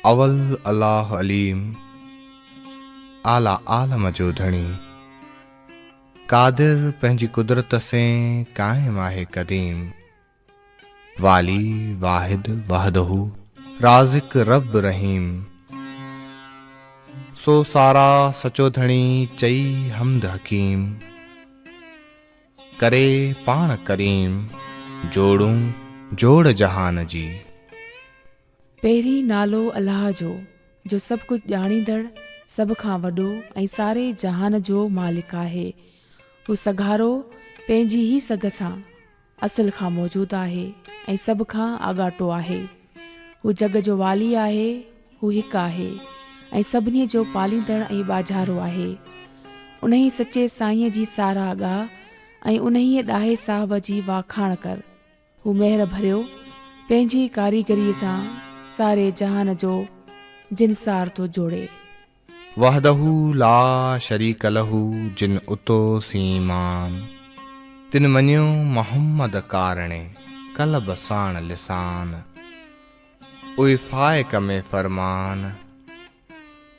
اول الله عليم اعليٰ عالم جو ڌڻي قادر پنهنجي قدرت سين قائم آهي قديم والي واحد وحده رازق رب رحيم سو سارا سچو ڌڻي چئي حمد حڪيم ڪري پاڻ ڪريم جوڙون جوڙ جهان جي. پهرين نالو الله جو، جو سڀ ڪجهه ڄاڻيندڙ، سڀ کان وڏو ۽ ساري جهان جو مالڪ آهي. هو سگهارو، پنهنجي ئي سگهه سان، اصل کان موجود آهي ۽ سڀ کان آڳاٽو آهي. هو جڳ جو والي آهي، هو هڪ آهي ۽ سڀني جو پاليندڙ ۽ ٻاجهارو آهي. انهي سچي سائينء جي ساراهه ڳاء ۽ انهيء ڏاهي صاحب جي واکاڻ ڪر. هو مهر ڀريو پنهنجي ڪاريگريء سان ساري جهان جو جنسار ٿو جوڙي. وحده لا شريڪ له جن اتو سين مان، تن مڃيو محمد ڪارڻي قلب ساڻ لسان، اوي فائق ۾ فرمان.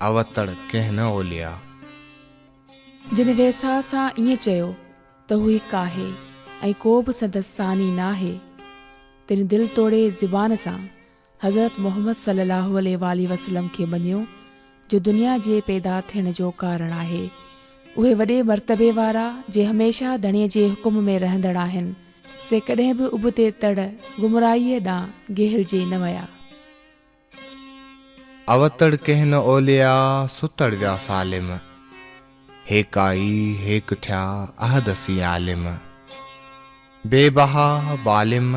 اوتڙ ڪنهن نه اوليا. جن ويساهه سان ائين چيو ته هو هڪ آهي ۽ ڪو به سندس ثاني ناهي، تن دل توڙي زبان سان حضرت محمد صلّي اللّٰه عليه واٰله وسلّم کي مڃيو جو دنيا جي پيدا ٿيڻ جو ڪارڻ آهي. اهي وڏي مرتبي وارا جي هميشه ڌڻي جي حڪم ۾ رهندڙ آهن، سي ڪڏهن به ابتي تڙ، گمراهيء، ڏانهن گهيلجي نه ويا. اوتڙ ڪنهن نه اوليا، ستڙ ويا سالم. هيڪا ئي هيڪ ٿيا، احد سين عالم. بي بها بالم،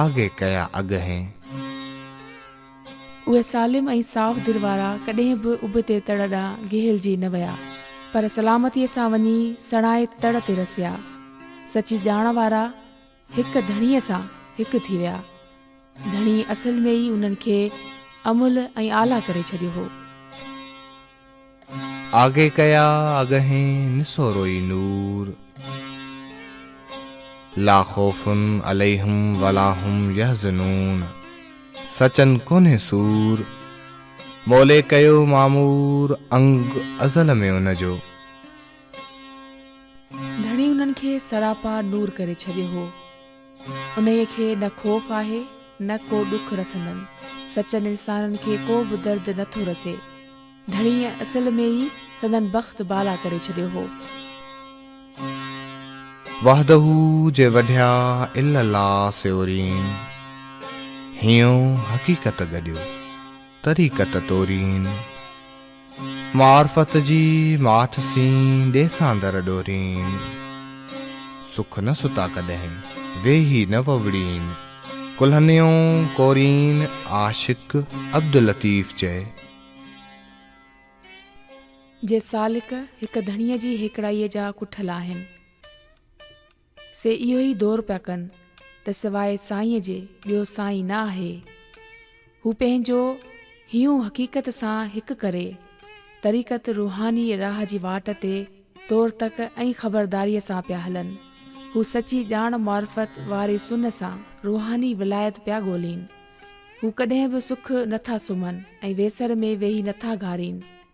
آگي ڪيا اڳهين. اهي سالم ۽ صاف دل وارا ڪڏهن به اڀ تي تڙ ڏانهن گهيلجي نه ويا، پر سلامتيء سان وڃي سڻائي تڙ تي رسيا. سچي ڄاڻ وارا. هڪ ڌڻيء سان هڪ ٿي ويا. ڌڻي اصل ۾ ئي انهن کي املهه ۽ آلا ڪري ڇڏيو هو. آگي ڪيا اڳهين نسوروئي نور. لا خوف عليهم ولا هم يحزنون سچن ڪونهي سور. مولي ڪيو معمور انگ ازل ۾ ان جو. ڌڻي انهن کي سراپا نور ڪري ڇڏيو هو. انهيء کي نه خوف آهي، نه ڪو ڏک رسندن. سچن انسانن کي ڪو به درد نه ٿو رسي. ڌڻيء اصل ۾ ئي سندن بخت بالا ڪري ڇڏيو هو. وحده جي وڍيا الا لا سيورين. هينئون حقيقت گڏيو، طريقت تورين. معرفت جي ماٺ سين ڏيسان در ڏورين. سک نه ستا ڪڏهن ويهي نه ووڙين. ڪلهنيون ڪورين عاشق عبداللطيف چئي. جي سالڪ هڪ ڌڻيء جي هيڪڙائيء جا ڪٺل آهن. سي اهو ئي دور پيا ڪن ته سواء سائينء جي ٻيو سائين نه آهي. هو پنهنجو هيون حقيقت سان هڪ ڪري، طريقت روحاني راهه جي واٽ تي تور تڪ ۽ خبرداريء سان پيا هلن. هو سچي ڄاڻ معرفت واري سن سان روحاني ولايت پيا ڳولين. هو ڪڏهن به سک نه ٿا سمهن ۽ ويسر ۾ ويهي نه ٿا گهارين.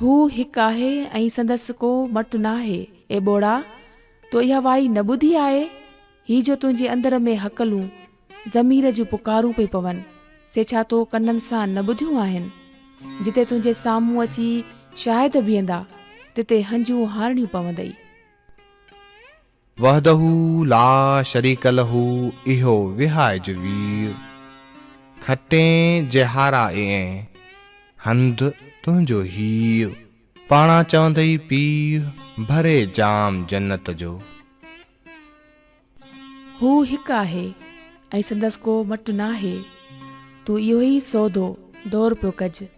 هو هڪ آهي ۽ سندس ڪو مٽ ناهي. اي ٻوڙا! تو اها وائي نه ٻڌي آهي؟ هي جو تنهنجي اندر ۾ هڪلون، ضمير جون پڪارون پئي پون، سي ڇا تو ڪنن سان نه ٻڌيون آهن؟ جتي تنهنجي سامهون اچي شاهد بيهندا، تتي هنجون هارڻيون پوندئي. وحده لا شريڪ له اهو وهائج وير، کٽين جهارا ايئن، هنڌ تنهنجو هير. پاڻان چوندئي پيء، ڀري جام جنت جو. هو هڪ آهي، ۽ سندس ڪو مٽ ناهي. تون اهو ئي سودو، دور پيو ڪج.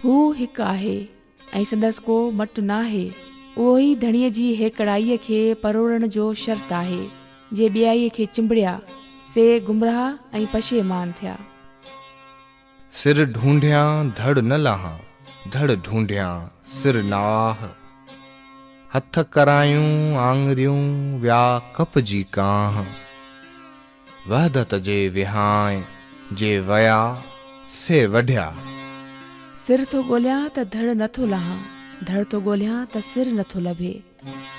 هو هڪ آهي ۽ سندس ڪو مٽ ناهي. اهو ئي ڌڻيء جي هيڪڙائيء کي پروڙڻ جو شرط آهي. جي ٻيائيء کي چنبڙيا، سي گمراهه ۽ پشيمان ٿيا. سر ڍونڍيان ڌڙ نه لاهان، ڌڙ ڍونڍيان سر ناهه. هٿ ڪرايون آڱريون ويا ڪپجي ڪانه. وحدت جي وهانء جي ويا سي وڍيا. سر ٿو ڳوليان ته ڌڙ نه ٿو لهان، ڌڙ ٿو ڳوليان ته سر نه ٿو لڀي.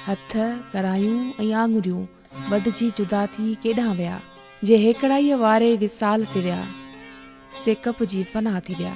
هٿ، ڪرايون ۽ آڱريون وڍجي جدا ٿي ڪيڏانهن ويا؟ جي هيڪڙائيء واري وصال تي ويا، سي ڪپجي فنا ٿي ويا.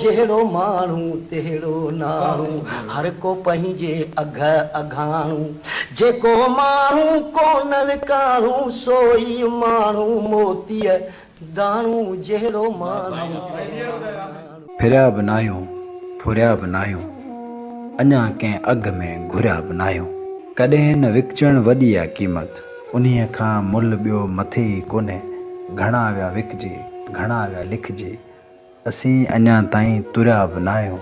جهڙو ماڻهو تهڙو ناڻو، هر ڪو پنهنجي اگهه اگهاڻو. جيڪو ماڻهو ڪونه وڪاڻو، سو ئي ماڻهو موتيء داڻو. جهڙو ماڻهو تهڙو ناڻو. ڦريا به ناهيون، ڦريا به ناهيون، اڃا ڪنهن اگهه ۾ گهريا به ناهيون. ڪڏهن نه وڪجڻ وڏي آ قيمت، انهيء کان ملهه ٻيو مٿي ئي ڪونهي. گهڻا ويا وڪجي، گهڻا ويا لکجي. اسين اڃا تائين تريا به ناهيون،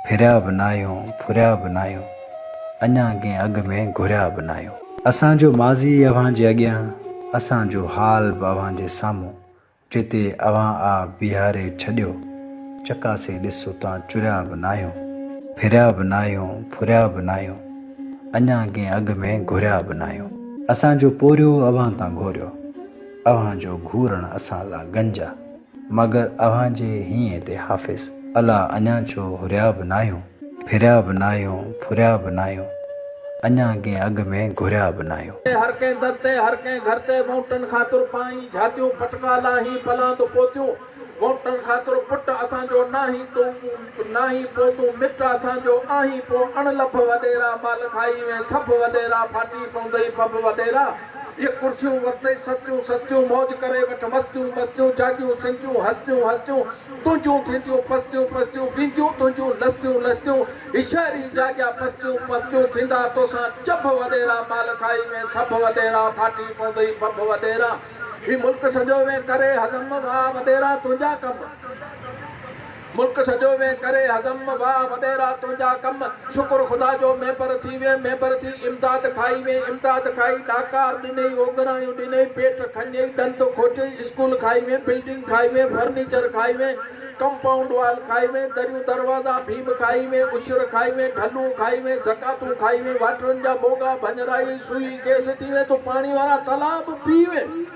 ڦريا به ناهيون، ڦريا به ناهيون، اڃا ڪنهن اڳ ۾ گهريا به ناهيون. اسان جو ماضي اوهان جي اڳيان، اسان جو حال به اوهان جي سامهون، جتي اوهان آ بيهاري ڇڏيو، چڪاسي ڏس اتان چريا به ناهيون، ڦريا به ناهيون، ڦريا به ناهيون، اڃا ڪنهن اڳ ۾ گهريا به ناهيون. اسان جو پورهيو اوهان تان گهوريو، اوهان جو گهورڻ اسان لا گنج آ. مگر اوهان جي هينء تي حافظ الا اڃا ڇو هريا به ناهيون. ڦريا به ناهيون، ڦريا به ناهيون. اڃا ڪنهن اڳ ۾ گهريا به ناهيون. هر ڪنهن در تي، هر ڪنهن گهر تي مؤٽن خاطر پائين جهاتيون پٽڪا لاهين پلاند پوتيون مؤٽن خاطر پٽ اسان جو ناهين تون ناهين پو تون مٽ اسان جو آهين پو اڻ لڀ وڏيرا مال کائي وين سڀ وڏيرا ڦاٽي پوندئي پڀ وڏيرا اهي ڪرسيون ورتي سستيون سستيون موج ڪري وٺ مستيون مستيون جاڳيون سنجيون هستيون هستيون تنهنجون ٿينديون پستيون پستيون وينديون تنهنجون لستيون لستيون هي شهر ئي جاڳيا پستيون پستيون ٿيندا توسان چڀ وڏيرا مال کائي وين سڀ وڏيرا ڦاٽي پوندئي ڀڀ وڏيرا هي ملڪ سڄو وين ڪري هضم واه وڏيرا تنهنجا ڪم ملڪ سڄو وين ڪري هضم واهه وڏيرا تنهنجا ڪم شڪر خدا جو ميمبر ٿي وين ميمبر ٿي امداد کائي وين امداد کائي ڏاڪار ڏنئي اوڳرايون ڏنئي پيٽ کنئي ڏند کوٽيئي اسڪول کائي وين بلڊنگ کائي وين فرنيچر کائي وين ڪمپائونڊ وال کائي وين دريون دروازا ڀيم کائي وين عشر کائي وين ڍلون کائي وين زڪاتون کائي وين واٽرن جا ڀوڳا ڀڃرائي سوئي گيس ٿي وين تون پاڻي وارا تلاء به پي وين.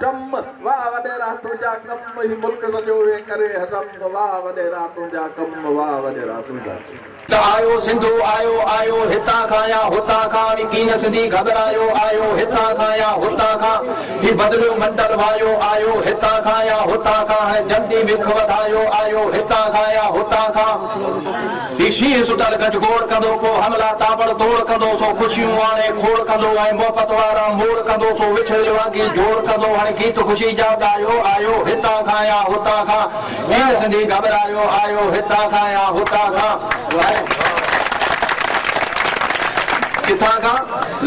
ٽم، واھ وڏيرا تنهنجا ڪم هي ملڪ سڄو وين ڪري هضم واھ وڏيرا تنهنجا ڪم واھ وڏيرا تنهنجا ڪم. ته آيو سنڌو آيو آيو هتان کان يا هتان کان هي ڪيئن سنڌي گهٻرايو آيو هتان کان يا هتان کان هي بدليو منڊل وايو آيو هتان کان يا هتان کان هاڻي جلدي وک وڌايو آيو هتان کان يا هتان کان. هي شينهن سٽل گج گوڙ ڪندو، پوء حملا تاٻڙ توڙ ڪندو، سو خوشيون آڻي کوڙ ڪندو، ۽ محبت وارا موڙ ڪندو، سو وڇڙيل واڳي جوڙ ڪندو، هڻ گيت خوشي جا ڳايو، آيو هتان کان يا هتان کان، گيت سنڌي گهٻرايو، آيو هتان کان يا هتان کان، ڪٿان کان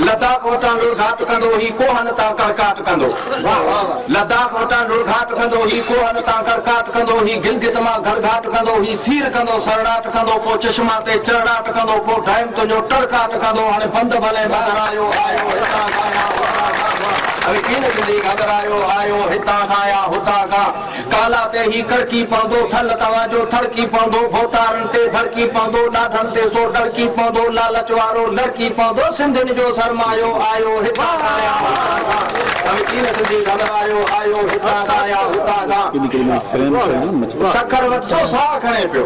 لتان کوٽان لڙگهاٽ ڪندو، هي ڪوهن تان ڪڙڪاٽ ڪندو. واھ واھ واھ. لداخ وٽان لڙگھاٽ ڪندو هي کوهن تان ڪڙڪاٽ ڪندو هي گلگت مان گھڙگھاٽ ڪندو هي سير ڪندو سرڙاٽ ڪندو پو چشما تي چرڙاٽ ڪندو پو ڊئم تنهنجو ٽڙڪاٽ ڪندو هاڻي بند ڀلي مگر آيو آيو هتان کان يا هتان کان اوهي ڪين ٿيندي گھگھرايو آيو هتان کان يا هتان کان. ڪالا تي هي ڪڙڪي پوندو، ٿل توهان جو ٿڙڪي پوندو، ڀوتارن تي ڀڙڪي پوندو، ڏاڍن تي سو ڊڙڪي پوندو، لالچ وارو لڙڪي پوندو، سنڌين جو سرمايو آيو هتان کان يا هتان کان، ڀلي چين سنڌي گهٻرايو آيو هتان کان يا هتان کان. سکر وٽ جو ساهه کڻي پيو،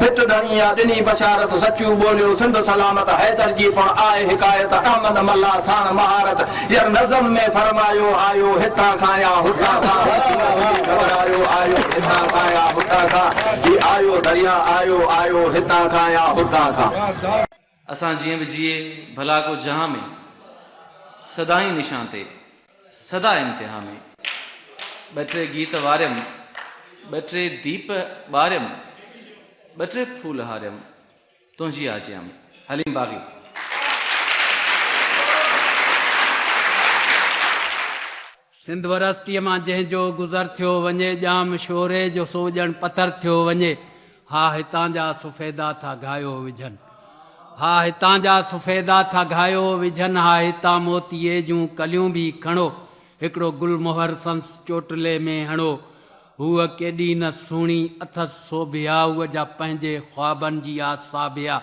پٽ ڌڻي آ ڏني بشارت سچون ٻوليو سنڌ سلامت حيدر جي پڻ آء حڪايت احمد ملاح ساڻ مهارت ير نظم ۾ فرمايو آيو هتان کان يا هتان کان هو ڪيئن سڄي گهٻرايو آيو هتان کان يا هتان کان هي آيو درياء آيو آيو هتان کان يا هتان کان. اسان جيئن به جيئي ڀلا ڪو جهان ۾، سدائين نشان تي سدا امتحان ۾، ٻه ٽي گيت واريم، ٻه ٽي ديپ ٻاريم، ٻه ٽي ڦول هاريم، تنهنجي آجيان ۾، حليم باغي. سنڌ ورسٽيء مان جنهن جو گذر ٿيو وڃي، ڄام شوري جو سو ڄڻ پٿر ٿيو وڃي. ها هتان جا سفيدا ٿا گهايو وجهن. ها هتان جا سفيدا ٿا گهايو وجهن ها هتان موتيي جون ڪليون به کڻو، هڪڙو گل مهر سندس چوٽلي ۾ هڻو. هوء ڪيڏي نه سهڻي اٿس سوڀيا هوء جا پنهنجي خوابن جي آ ساڀيا.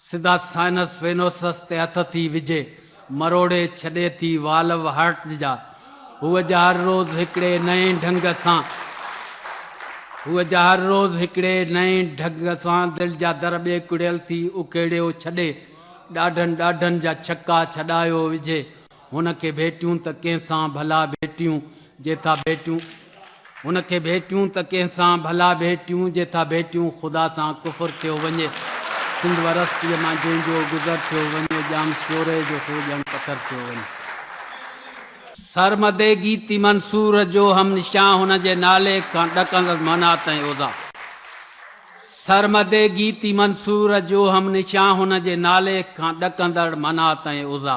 سڌا سائنس وينوسس تي هٿ ٿي وجهي، مروڙي ڇڏي ٿي والو هارٽ جا. هوء جا هر روز هڪڙي نئين ڍنگ سان هوء جا هر روز هڪڙي نئين ڍنگ سان دل جا در ٻيڪڙيل ٿي اکيڙيو ڇڏي، ڏاڍن ڏاڍن جا ڇڪا ڇڏايو وجهي. هن کي ڀيٽيون ته ڪنهن سان ڀلا ڀيٽيون جي ٿا ڀيٽيون هن کي ڀيٽيون ته ڪنهن سان ڀلا ڀيٽيون جي ٿا ڀيٽيون خدا سان ڪفر ٿيو وڃي سنڌ ورستيء مان جنهن جو گذر ٿيو وڃي ڄام شوري جو سو ڄڻ پٿر ٿيو وڃي سرمدي گيتي منصور جو هم نشان هن جي نالي کان ڏڪندس منات ۽ اوزا سرمدي گيتي منصور جو هم نشان هن جي نالي کان ڏڪندڙ منات ۽ اوزا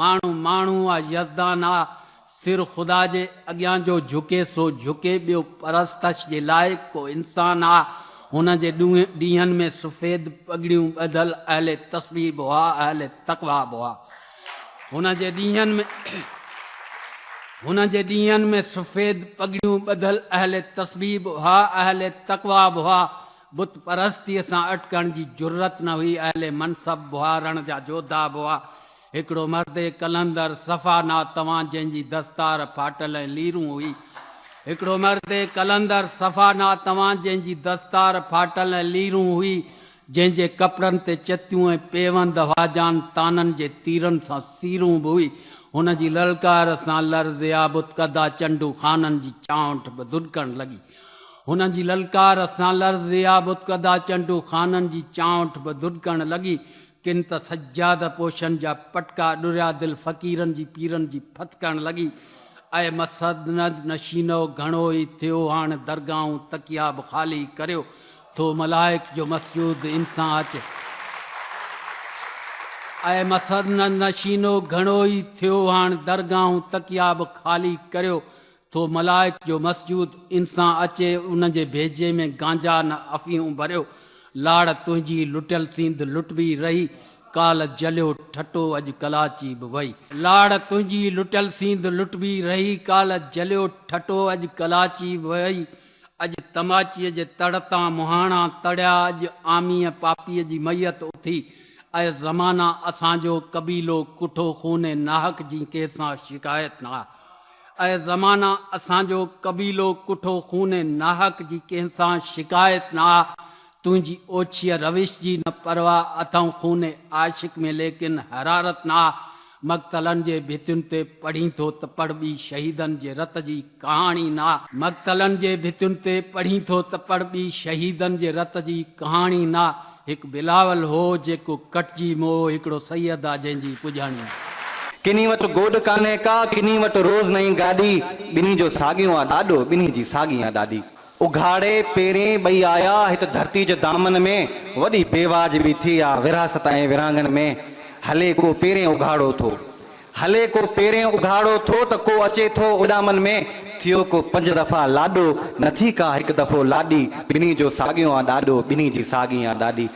ماڻهو ماڻهو آ يزدان آ سر خدا جي اڳيان جو جهڪي سو جهڪي ٻيو پرستش جي لائق ڪو انسان آ هن جي ڏينهن ۾ سفيد پڳڙيون ٻڌل اهل تسبيح به هئا اهل تقويٰ به هئا هن جي ڏينهن ۾ هن جي ڏينهن ۾ سفيد پڳڙيون ٻڌل اهل تسبيح به هئا اهل تقويٰ به هئا بت پرستيء سان اٽڪڻ جي جرئت نه هئي، اهل منصب بها رڻ جا جوڌا به هئا. هڪڙو مرد اي قلندر صفا نا توان جنهن جي دستار ڦاٽل ۽ ليرون هئي. هڪڙو مرد اي قلندر صفا نا توان جنهن جي دستار ڦاٽل ۽ ليرون هئي، جنهن جي ڪپڙن تي چتيون ۽ پيوند هئا، جان تانن جي تيرن سان سيرون به هئي. هن جي للڪار سان لرزيا بت ڪدا چنڊو خانن جي چانئٺ به ڌڏڪڻ لڳي. هنن جي للڪار سان لرزيا بتڪدا چنڊو خانن جي چانئٺ به ڌڏڪڻ لڳي. ڪن ته سجاده پوشن جا پٽڪا ڏريا دل فقيرن جي پيرن جي ڦٿڪڻ لڳي. اي مسند نشينؤ گهڻو ئي ٿيو هاڻ درگاهون تڪيا به خالي ڪريو ٿو ملائڪ جو مسجود ان سان اچي. اي مسند نشينؤ گهڻو ئي ٿيو هاڻ درگاهون تڪيا به خالي ڪريو ٿو ملائڪ جو مسجود انسان اچي ان جي ڀيڄي ۾ گانجا نه افيون ڀريو لاڙ تنهنجي لٽيل سيند لٽبي رهي ڪال جليو ٺٽو اڄ ڪلاچي به وئي. لاڙ تنهنجي لٽيل سيند لٽبي رهي ڪال جليو ٺٽو اڄ ڪلاچي به وئي اڄ تماچي جي تڙ تان مهاڻا تڙيا اڄ عاميء پاپيء جي ميت اٿي اي زمانا اسان جو قبيلو ڪٺو خون ناحق جي ڪنهن سان شڪايت نه اي زمانه! اسان جو قبيلو ڪٺو خون ناحق جي ڪنهن سان شڪايت نه آ، تنهنجي اوڇيء روش جي نه پرواهه اٿئون خون عاشق ۾ ليڪن حرارت نه آ، مقتلن جي ڀتين تي پڙهين ٿو ته پڙهه ٻي شهيدن جي رت جي ڪهاڻي نه آ، مقتلن جي ڀتين تي پڙهين ٿو ته پڙهه ٻي شهيدن جي رت جي ڪهاڻي نه آ، هڪ بلاول هو جيڪو ڪٽجي مئو هڪڙو سيد آ جنهن جي پڄاڻي. ڪني وٽ گوڏ ڪانهي ڪا ڪني وٽ روز نئين گاڏي ٻنهي جو ساڳيو آ ڏاڏو ٻنهي جي ساڳي آ ڏاڏي اگهاڙي پيرين ٻئي آيا هت ڌرتي جي دامن ۾ وڏي بيواج به ٿي آ ورهاست ۽ ورهاڱن ۾ هلي ڪو پيرين اگهاڙو ٿو هلي ڪو پيرين اگهاڙو ٿو ته ڪو اچي ٿو اڏامن ۾، ٿيو ڪو پنج دفعا لاڏو، نه ٿي ڪا هڪ دفعو لاڏي، ٻنهي جو ساڳيو آ ڏاڏو، ٻنهي جي ساڳي آ ڏاڏي،